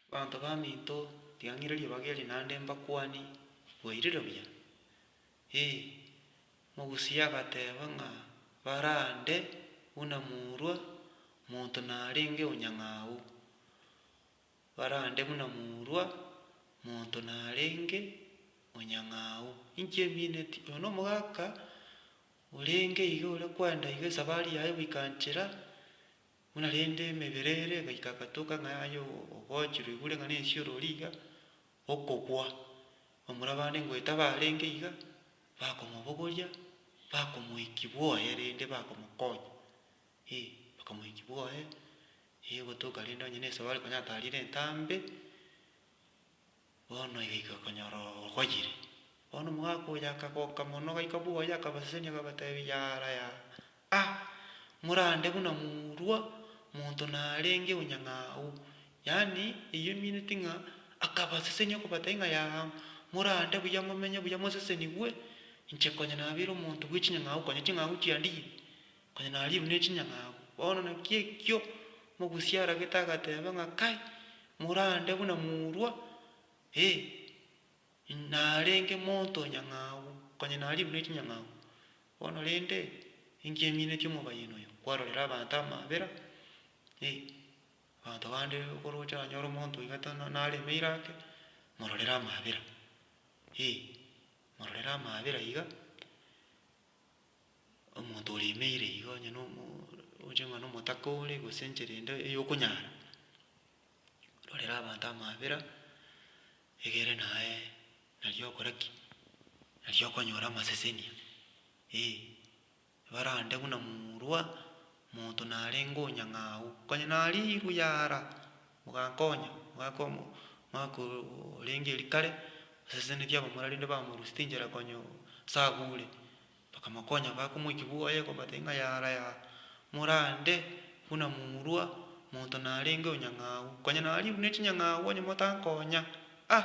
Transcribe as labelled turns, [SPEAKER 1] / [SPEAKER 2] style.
[SPEAKER 1] Abanto baminto, riang'iriria bageri naende mbakwani, bwairire buya? Ee. Mogusi agateba ng'a barande buna morwa monto narenge onyang'au, barande buna morwa monto narenge onyang'au. Inki emineti? Oyo nomogaka orenge iga ore kwenda iga esabari yaye goika nchera, Buna rende emebere ere egaika egatoka ng'a aye ogochire oigure ng'a nensi orori iga okobua, bamura bande ngoeta barenge iga bakomobogoria, bakomoiki bwoye rende bakomokonya, eh bakamoiki bwoye, eh gotoka rende onye na esabari konya atarire entambe. Bono iga iga okonyora ogokoyire. Bono omogaka oyo akagoka mono, ogaika bwoye, akabasesenia, akabateebia, Yaara yaara, a! morande buna morua monto narenge onyang'au. Yaani, eyio emineti ng'a akabasesenia okobateebia ng'a yaara, morande buya, momenye buya, mosesenigwe, inche konya nabeire omonto bwe chinyang'au, konya ching'au chiandiye, Onye naribu ne chinyang'abu, bono naki ekio omogusia aragete agateba ng'a kai, morande buna morwa, ee, narenge monto onyang'abu, onye naribu ne chinyang'abu. Bono rende, inki eminetie omobayen oyo? Kwarorire abanto amabera, ee, abanto bande okoroche nanyore omonto iga tana naremeire ake, mororere amabera, ee, mororere amabera iga. omonto oremeire iga onye na omogocha ng'a na omotaka ore gose enchera ende eyokonyara, rorera abanto amabera, egere naye nari okora ki, nari okonyora amaseseni aa, eh. Barande buna morwa, monto narenge onyang'au, konya nariirwe yara. Mogankonya, mogaka omo, omwaka orenge erio kare, abaseseneti aba morware rende bamorusia tinchera konya ase agure, bakamokonya bakomoikia buya aye kobatebia ng'a yara yara, morande buna murwa, monto narenge onyang'au, konya naribu ne chinyang'au onye motankonya ah.